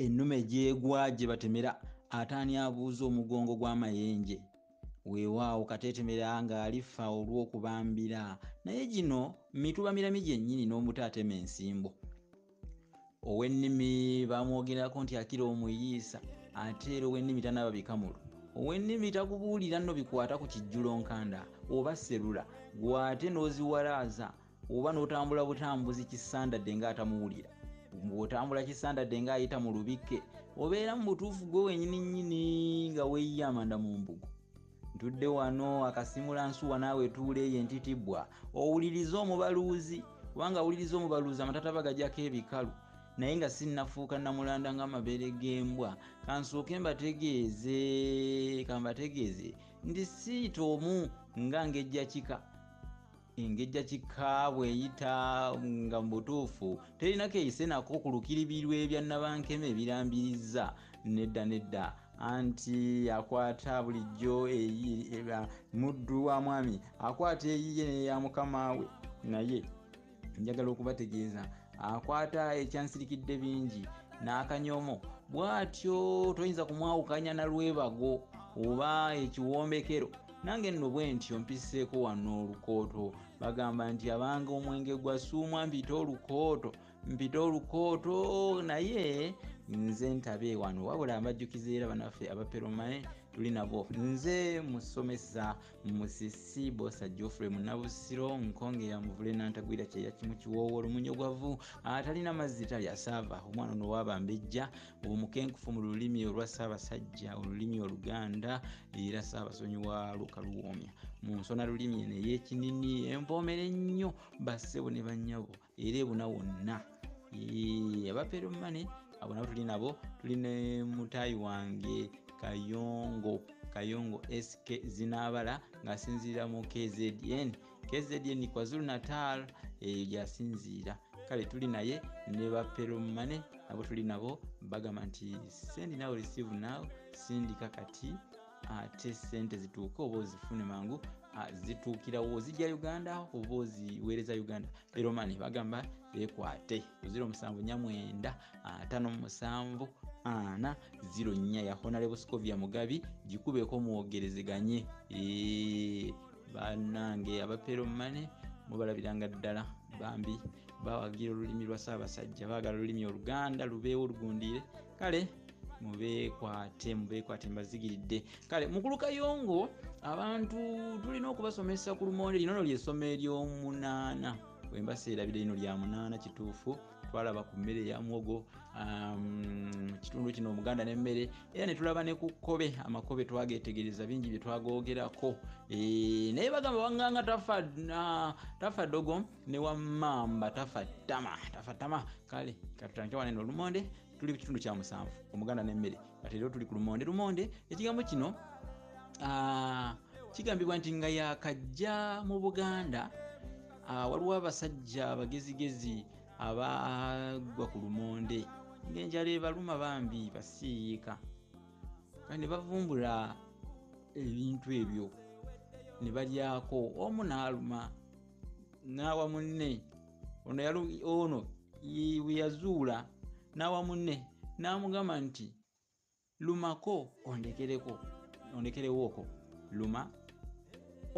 ennume gyegwa gye batemera ataani abuuza omugongo gw'amayenje weewaawo kateetemera ng'alifa olw'okubambira naye gino mituba mirami gyennyini n'omuto atema ensimbo ow'ennimi bamwogerako nti akira omuyiisa ate era ow'ennimi tanaaba bikamulo ow'ennimi takubuulira nno bikwata ku kijjulo nkanda oba serula gw'ate n'oziwalaaza oba n'otambula butambuzi kisandadde nga atamuwulira bw'otambula kisandadde nga ayita mu lubikke obeera mu butuufu gwe wenyini nyini nga weyiye amanda mu mbugo ntudde wano akasimula nsuwa naawe tuula eyo entitibwa owuliriza omubaluuzi kubanga awuliriza omubaluuzi amatataba gajako ebikalu naye nga sinnafuuka namulanda nga amabeere g'embwa kansooke mbategeeze kambategeeze nti siita omu nga ngejjakika engejja kika bweyita nga mubutuufu terina keyise nako ku lukiribirwa ebya nabankema ebirambiriza nedda nedda anti akwata bulijjo muddu wa mwami akwata eyiye neya mukama we naye njagala okubategeeza akwata ekyansirikidde bingi n'akanyomo bwatyo toyinza kumwawukanya na lwebago oba ekiwombekero nange nno bwe ntyo mpisseeko wano olukooto bagamba nti abanga omwenge gwa suumwa mpite olukooto mpite olukooto naye nze ntabe wano wabula mbajjukiza era banaffe abaperomae tuli nabo nze musomesa musisi bosa geoffrey munabusiro nkonge yamuvule nantagwira kyeya kimu kiwoowo olumunyogovu atalina mazzi talya saava omwana onowabambejja omukenkufu mu lulimi olwa ssaabasajja olulimi oluganda era ssaabasonyi wa lukaluwoomya mu nsona lulimi eno ey'ekinini envoomera ennyo bassebo ne bannyabo era ebuna wonna abapeero mane abo nabo tuli nabo tuli ne mutaayi wange kayongo kayongo sk zinaabala ng'asinziira mu kzn kzn kwazulu natal eyo gyasinziira kale tuli naye ne baperomane nabo tuli nabo bagamba nti sendi nawe receive now sindika kati ate sente zituuke oba ozifune mangu zituukirawo zijja uganda oba oziweereza uganda peromane bagamba ekwate kuziro musanvu nyamwenda atano musanvu ana ziro nya yahonalebuscovia mugabi gikubeeko mwogerezeganye eee banange abapero mane mubalabiranga ddala bambi bawagira olulimi lwa saabasajja baagala olulimi oluganda lubeewo olugundiire kale mubekwate mubekwate mbazigiridde kale mukulu kayongo abantu tulina okubasomesa ku lumonde lino no lyesoma eryomunaana wembaseerabira lino lya munaana kituufu twalaba ku mmere ya muwogo um, kitundu kino omuganda nemmere era netulaba ne ku kkobe amakobe twagetegereza bingi bye twagogerako eh, naye bagamba wanganga tafa dogo ne wamamba tafa tama tafa tama kale katutandike wanene olumonde tuli ku kitundu kya musanvu omuganda nemmere kati era tuli ku lumonde lumonde ekigambo kino ah, kigambibwa nti nga yakajja mu buganda ah, waliwo abasajja abagezigezi abagwa ku lumonde ng'enjala ebaluma bambi basiiyiika ne bavumbula ebintu ebyo ne balyako omu n'aluma n'awa munne ono ono bwe yazuula n'awa munne n'amugamba nti lumako ondekereko ondekerewooko luma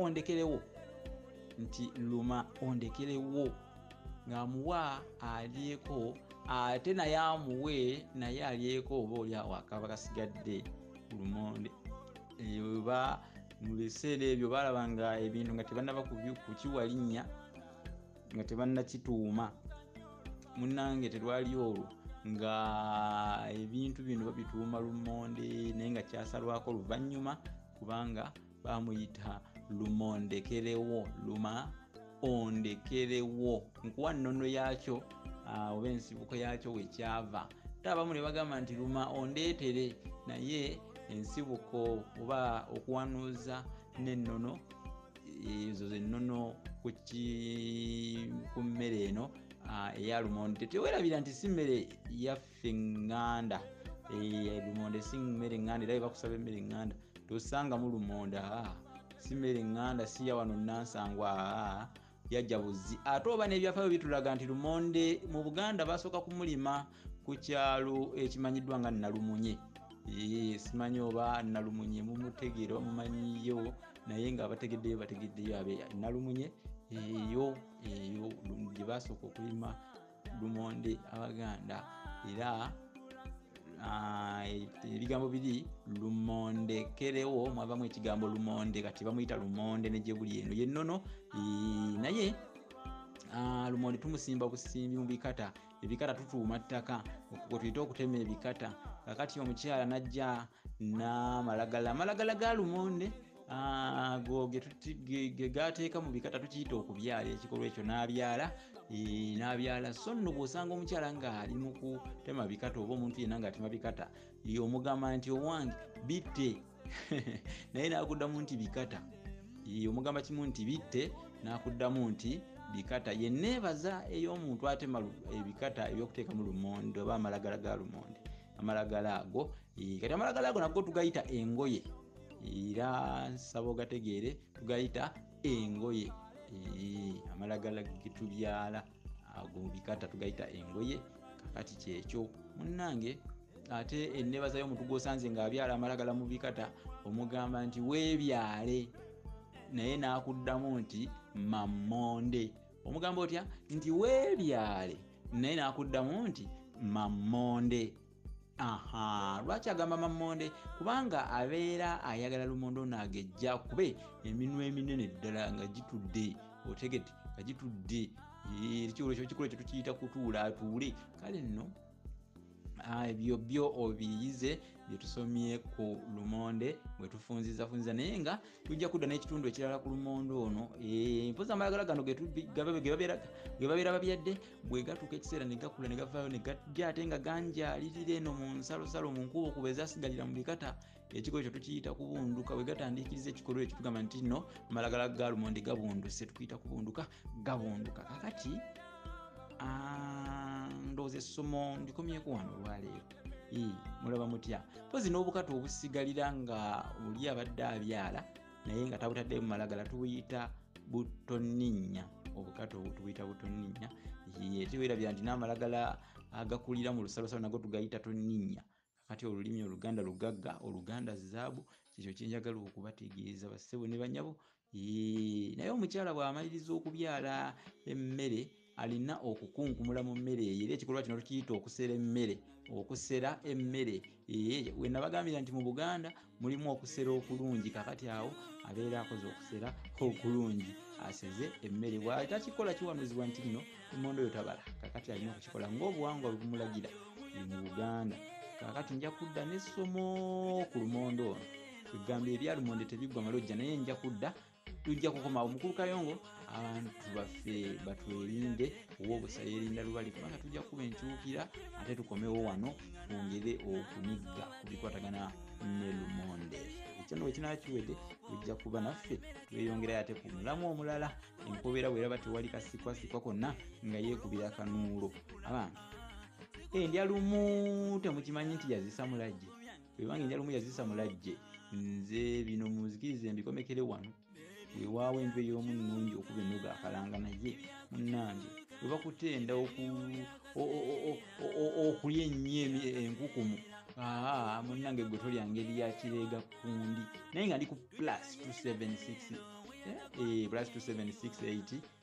ondekerewo nti luma ondekerewo ng'amuwa alyeko ate naye amuwe naye alyeko oba oli awo akaba kasigadde ku lumonde eba mu biseera ebyo balaba nga ebintu nga tebanaba kukiwa linnya nga tebannakituuma munange terwali olwo nga ebintu bino babituuma lumonde naye nga kyasalwako luvannyuma kubanga bamuyita lumondekerewo luma ondekerewo nkuwa nnono yaakyo ah, oba ensibuko yaakyo wekyava ate abamu ne bagamba nti luma ondeetere naye ensibuko oba okuwanuuza n'ennono ezo zennono ku mmere eno ah, eya lumonde tetewerabira nti si mmere yaffe ŋŋanda eh, lumonde si mmere ŋŋanda era bebakusaba emmere ŋŋanda tosangamu lumonde ah, si mmere ŋŋanda si ya wano nansangwa ah, yajja buzzi ate oba n'ebyafayo bitulaga nti lumonde mu buganda basooka kumulima ku kyalo ekimanyiddwa nga nalumunye eh, simanyi oba nalumunye mumutegeera omumanyiyo naye nga abategeddeyo bategeddeyo abe nalumunye eyo eyo gye basooka okulima lumonde abaganda era ah, ebigambo biri lumonde kerewo mwavamu ekigambo lumonde kati bamuyita lumonde negyebuli eno yennono naye ah, lumonde tumusimba busimbi mu bikata ebikata tutuuma ttaka okwo kwe tuyita okutema ebikata kakati omukyala najja n'amalagala amalagala ga lumonde Ah, go gegateeka mu bikata tukiyita okubyala ekikolwa ekyo n'abyala eh, n'abyala so nno bw'osanga omukyala ng'ali mu kutema bikata oba omuntu yenna ng'atema bikata yomugamba nti owange bitte naye nakuddamu nti bikata yomugamba kimu nti bitte nakuddamu nti bikata ye neebaza ey'omuntu atema ebikata ebyokuteeka mu lumonde oba amalagala ga lumonde amalagala ago kati amalagala ago nago tugayita engoye era nsaba ogategeere tugayita engoye amalagala getubyala ago mubikata tugayita engoye kakati kyekyo munange ate enebaza yomuntu gwosanze nga abyala amalagala mubikata omugamba nti webyale naye nakuddamu nti mamonde omugamba otya nti webyale naye nakuddamu nti mamonde aha lwaki agamba mamonde kubanga abeera ayagala lumonde ono agejja kube eminwa eminene ddala nga gitudde otegete nga gitudde ekiolekyo kikula ekyo tukiyita kutuula atuule kale nno ah, ebyo byo obiyize byetusomye ku lumonde bwetufunzizafunziza naye nga tujja kudda n'ekitundu ekirala ku lumonde ono eh, mpozi amalagala gano gebabeera babyadde bwe gatuuka ekiseera ne gakula ne gavaayo ne gajja ate nga ganjaalirira eno mu nsalosalo mu nkuba okuba ezasigalira mu bikata ekikolo ekyo tukiyita kubunduka bwe gatandiikiriza ekikolwa ekyo tugamba nti nno malagala ga lumonde gabunduse tukiyita kubunduka gabunduka kakati ndowooza essomo ndikomyeku wano olwaleero mulaba mutya mpozi n'obukata obusigalira nga oli abadde abyala naye nga tabutaddemu malagala tubuyita butoninnya obukato tubuyita butoninnya tewerabira nti n'amalagala agakulira mu lusalosalo nago tugayita toninnya kati olulimi oluganda lugagga oluganda zaabu kyekyo kyenjagala okubategeeza bassebo ne banyabo naye omukyala bw'amaliriza okubyala emmere alina okukunkumula mu mmere eyo era ekikolwa kino tukiyita okusera emmere okusera emmere eyo we nabagambira nti mu buganda mulimu okusera okulungi kakati awo abeera akoze okusera okulungi aseze emmere bwali takikola kiwanuzibwa nti kino emondo yo tabala kakati alina okukikola ngaobuwangwa bwebumulagira mu buganda kakati nja kudda nessomo ku lumondo ono egamba ebyalumonde tebiggwa malojja naye nja kudda tujja kukomawo mukulu kayongo abantu baffe batwerinde owobusa yerinda lubali kubanga tujja kukuba enkyukira ate tukomewo wano twongere okunigga ku bikwatagana ne lumonde ekyo no wekinakiwede ojja kuba naffe tweyongerayo ate ku mulamu omulala enkobeera bweraba tewali kasikwasikwa konna nga yeekubira akanuulo abange endya lumu temukimanyi nti yazisa mulajje wewange njala omu yazisa mulajje nze bino muzikirize mbikomekere wano wewaawo enju ey'omu nnungi okuba ennoga akalanga naye munnange webakutenda okulya ennyo enkukumu aa munnange gwe tolya ngeri ya kireega kundi naye nga ndi ku plus 276 eh, eh, plus 276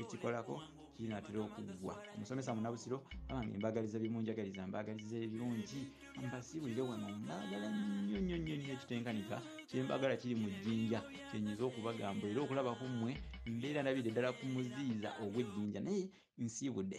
ekikolako kinatera okuggwa omusomesa munabusiro abange mbagaliza bimunjagaliza mbagaliza ebirungi mbasibulire wano mbagala nnyo nnyo nnyo nnyo ekitenkanika kyembagala kiri mu jjinja kyenyiza okubagamba era okulaba ku mmwe mbeera ndabire ddala ku muziiza ogw'ejjinja naye nsiibudde